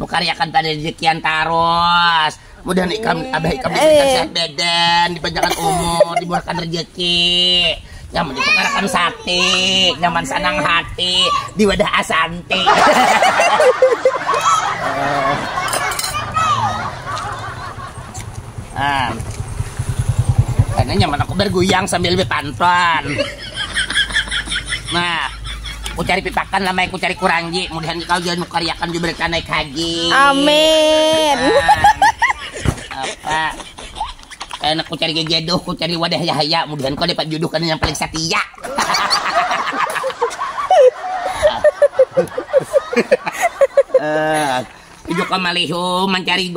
Bukariakan pada rejekian tarus. Mudah nih ikam abah ikam diberikan eh. sehat badan, dipanjangkan umur, dimurahkan rezeki. Nyaman ditukarakan sate, nyaman senang hati, di wadah asanti. ah. Karena nyaman aku bergoyang sambil berpantun. Nah, ku cari pitakan lamai ku cari kuranji mudahan kau jua nukariakan jua berita naik haji amin apa enak ku cari jodoh ku cari wadah yahaya mudahan kau dapat jodoh kan yang paling setia uh, eh, juga malihu mencari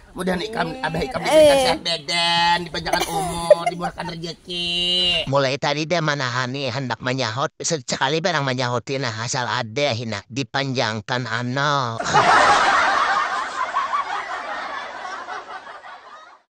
Mudah ikam abah ikam diberikan eh. sehat badan, dipanjangkan umur, dimurahkan rezeki. Mulai tadi dah manahani hendak manyahut, sekali barang manyahuti nah asal ada hinak dipanjangkan anal.